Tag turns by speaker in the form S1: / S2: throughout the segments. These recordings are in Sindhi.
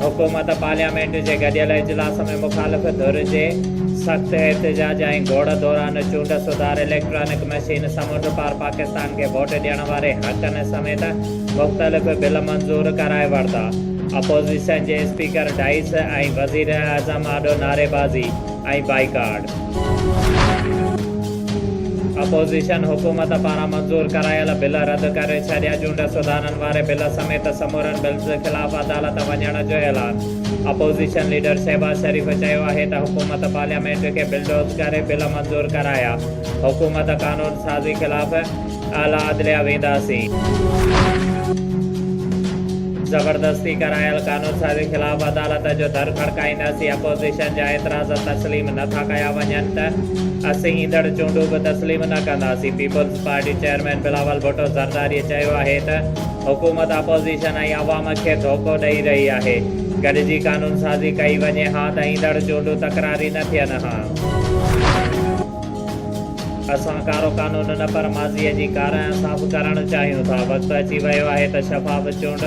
S1: حڪومت پارليامينٽ جي گڏيل اجلاس ۾ مخالف ڌر جي سخت احتجاج ۽ گوڙ دوران چونڊ سڌار اليڪٽرانڪ مشين، سمنڊ پار پاڪستان کي ووٽ ڏيڻ واري حقن سميت مختلف بل منظور ڪرائي ورتا. اپوزيشن جي اسپيڪر ڊائس ۽ وزيراعظم آڏو نعريبازي. ۽ بائيڪاٽ. اپوزيشن حڪومت پاران منظور ڪرايل بل رد ڪري ڇڏيا، چونڊ سڌارن واري بل سميت سمورن بلز خلاف عدالت وڃڻ جو اعلان، اپوزيشن ليڊر شهباز شريف چيو آهي ته حڪومت پارليامينٽ کي بلڊوز ڪري بل منظور ڪرايا، حڪومت قانون سازي خلاف. اعليٰ عدليه وينداسين. زبردستي ڪرايل قانونسازي خلاف عدالت جو در کڙڪائينداسين، اپوزيشن جا اعتراض تسليم نه ٿا ڪيا وڃن ته اسين ايندڙ چونڊون به تسليم نه ڪنداسين، Peoples Party chairman Bilawal Bhutto Zardari چيو آهي ته حڪومت اپوزيشن ۽ عوام کي ڌوڪو ڏئي رهي آهي، گڏجي قانونسازي ڪئي وڃي ها ته ايندڙ چونڊون تڪراري نه ٿين ها. اسان ڪارو قانون نه پر ماضيء جي ڪارنهن صاف ڪرڻ چاهيون ٿا، وقت اچي ويو آهي ته شفاف چونڊ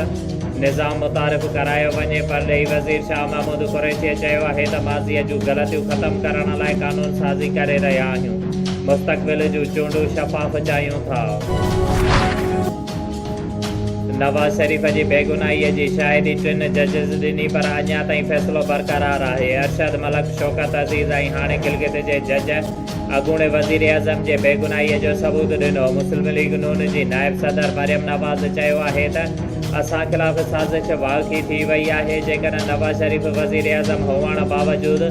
S1: نظام متعارف ڪرايو وڃي، پرڏيهي وزير شاهه محمود قريشيء چيو آهي ته ماضيء جون غلطيون ختم ڪرڻ لاء قانون سازي ڪري رهيا آهيون، مستقبل جون چونڊون شفاف چاهيون ٿا. نواز شريف جي بيگناهي جي شاهدي ٽن ججز ڏني پر اڃا تائين فيصلو برقرار آهي، ارشد ملڪ، شوڪت عزيز ۽ هاڻي گلگت جي جج اڳوڻي وزيراعظم جي بيگناهي جو ثبوت ڏنو، مسلم ليگ نون جي نائب صدر مريم نواز چيو آهي ته اسان خلاف سازش واقعي ٿي وئي آهي، جيڪڏهن نواز شريف وزيراعظم هئڻ باوجود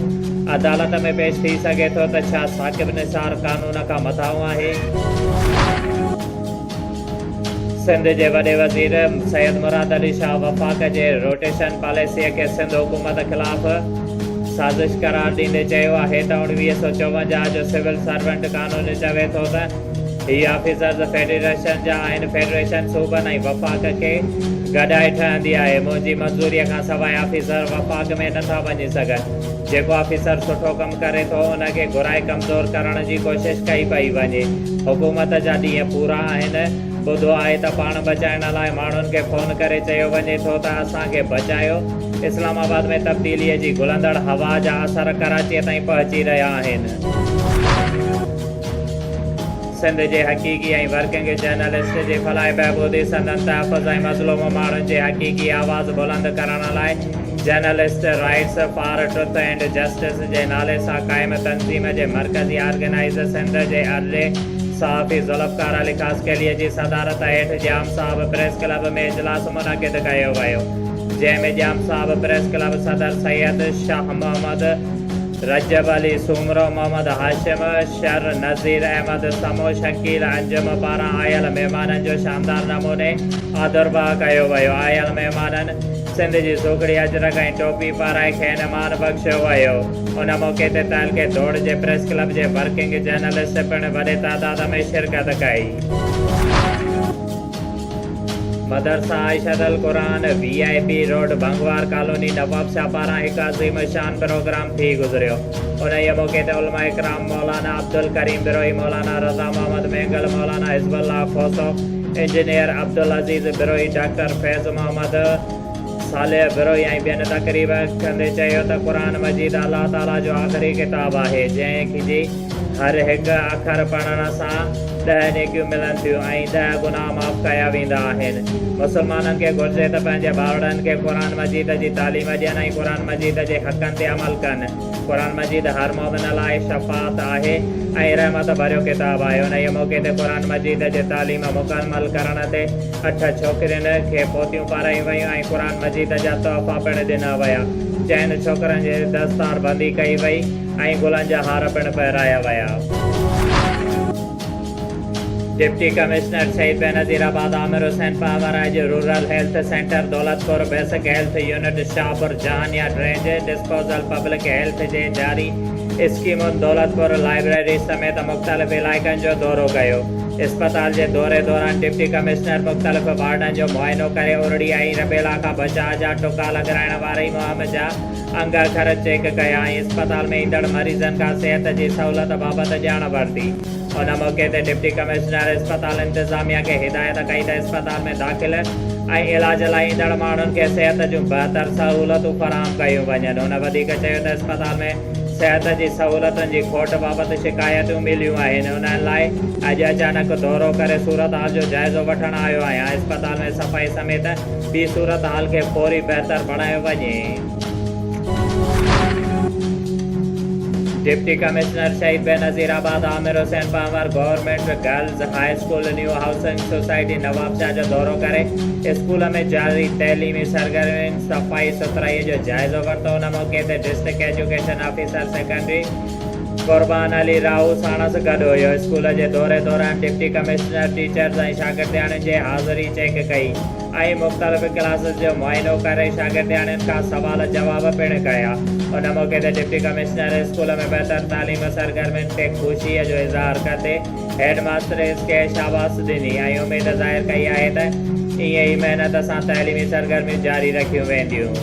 S1: عدالت ۾ پيش ٿي سگهي ٿو ته ڇا ثاقب نثار قانون کان مٿانهون آهي؟ سنڌ جي وڏي وزير سيد مراد علي شاهه وفاق جي روٽيشن پاليسيء کي سنڌ حڪومت خلاف سازش قرار ڏيندي چيو آهي ته اوڻويهه سؤ چوونجاهه جو سول سرونٽ قانون چوي ٿو ته هي آفيسرز فيڊريشن جا آهن، فيڊريشن صوبن ۽ وفاق کي گڏائي ٺهندي آهي، منهنجي منظوريء کانسواء آفيسر وفاق ۾ نٿا وڃي سگهن. جيڪو آفيسر سٺو ڪم ڪري ٿو ان کي گهرائي ڪمزور ڪرڻ جي ڪوشش ڪئي پئي وڃي حڪومت جا ڏينهن پورا آهن ٻڌو آهي ته پاڻ بچائڻ لاء ماڻهن کي فون ڪري چيو وڃي ٿو ته اسان کي بچايو اسلام آباد ۾ تبديلي جي گهلندڙ هوا جا اثر ڪراچي تائين پهچي رهيا آهن سنڌ جي حقيقي ۽ ورڪنگ جرنلسٽ جي فلاح بهبودي سندن تحفظ ۽ مظلوم ماڻهن جي حقيقي آواز بلند ڪرڻ لاء journalist rights for truth and justice جي نالي سان قائم تنظيم جي مرڪزي آرگنائيزر سنڌ جي ارڙهين صحافي ذوالفقار علي خاصخيليء جي صدارت هيٺ ڄام صاحب پريس ڪلب ۾ اجلاس منعقد ڪيو ويو جنهن ۾ ڄام صاحب پريس ڪلب صدر سيد شاهه محمد رجب علي سومرو محمد هاشم شر نذير احمد سمو شڪيل انجم پاران آيل مهمانن جو شاندار نموني آدرڀاء ڪيو ويو آيل مهمانن سنڌ جي سوگهڙي اجرڪ ۽ ٽوپي پارائي کين مان بخشيو ويو. ان موقعي تي تعلقي ڌوڙ جي پريس ڪلب جي ورڪنگ جرنلسٽ پڻ وڏي تعداد ۾ شرڪت ڪئي. مدرسه عائشه القرآن، V I P road, Bhangwar colony, Nawabshah پاران هڪ عظيم الشان پروگرام ٿي گذريو. انهيء موقعي تي علماء ڪرام مولانا عبدالڪريم بروهي، مولانا رضا Muhammad Mengal, Maulana Hizbullah Khoso, engineer Abdul Aziz Brohi, doctor Faiz Muhammad, Saleh Brohi ۽ ٻين تقريب ڪندي چيو ته قرآن مجيد الله تعاليٰ جو آخري ڪتاب آهي جنهن جي هر هڪ اکر پڙهڻ سان ڏهه نيڪيون ملن ٿيون ۽ ڏهه گناهه معاف ڪيا ويندا آهن مسلمانن کي گهرجي ته پنهنجي ٻارڙن کي قرآن مجيد جي تعليم ڏين ۽ قرآن مجيد جي حقن تي عمل ڪن. قرآن مجيد هر مؤمن لاء شفاعت آهي ۽ رحمت ڀريو ڪتاب آهي. انهيء موقعي تي قرآن مجيد جي تعليم مڪمل ڪرڻ تي اٺ ڇوڪرين کي پوتيون پارايون ويون ۽ قرآن مجيد جا تحفا پڻ ڏنا ويا. چئن ڇوڪرن جي دستار بندي ڪئي وئي ۽ گلن جا هار پڻ پهرايا ويا. Deputy commissioner Shaheed Benazirabad Aamir Hussain پاور آء جي rural health centre Daulatpur basic health unit Shahpur Jan يا ڊرينج ڊسپوزل پبلڪ هيلٿ جي جاري اسڪيمن دولت پور لائبريري سميت مختلف علائقن جو دورو ڪيو اسپتال جي دوري دوران ڊپٽي ڪمشنر مختلف وارڊن جو معائنو ڪري ارڙي ۽ ربيلا کان بچاء جا ٽڪا لڳرائڻ واري مهم جا انگ اکر چيڪ ڪيا ۽ اسپتال ۾ ايندڙ مريضن کان صحت جي سهولت بابت ڄاڻ ورتي. ان موقعي تي ڊپٽي ڪمشنر اسپتال انتظاميا کي هدايت ڪئي ته اسپتال ۾ داخل ۽ علاج لاء ايندڙ ماڻهن کي صحت جون بهتر سهولتون فراهم ڪيون وڃن. هن وڌيڪ چيو ته اسپتال ۾ صحت جي سهولتن جي کوٽ بابت شڪايتون مليون آهن انهن لاء اڄ اچانڪ دورو ڪري صورتحال جو جائزو وٺڻ آيو آهيان، اسپتال ۾ صفائي سميت ٿي صورتحال کي فوري بهتر بڻايو وڃي. Deputy commissioner Shaheed Benazirabad Aamir Hussain Panhwar government girls high school new housing society Nawabshah جو دورو ڪري اسڪول ۾ جاري تعليمي سرگرمين، صفائي سٿرائي جو جائزو ورتو، ان موقعي تي district education officer secondary. Qurban Ali Rahu ساڻس گڏ هيو. اسڪول جي دوري دوران ڊپٽي ڪمشنر ٽيچرز ۽ شاگردياڻين جي حاضري چيڪ ڪئي ۽ مختلف ڪلاسز جو معائنو ڪري شاگردياڻين کان سوال جواب پڻ ڪيا. ان موقعي تي ڊپٽي ڪمشنر اسڪول ۾ بهتر تعليم سرگرمين تي خوشيء جو اظهار ڪندي هيڊ ماستريز کي شاباس ڏني ۽ اميد ظاهر ڪئي آهي ته ائين ئي محنت سان تعليمي سرگرميون جاري رکيون وينديون.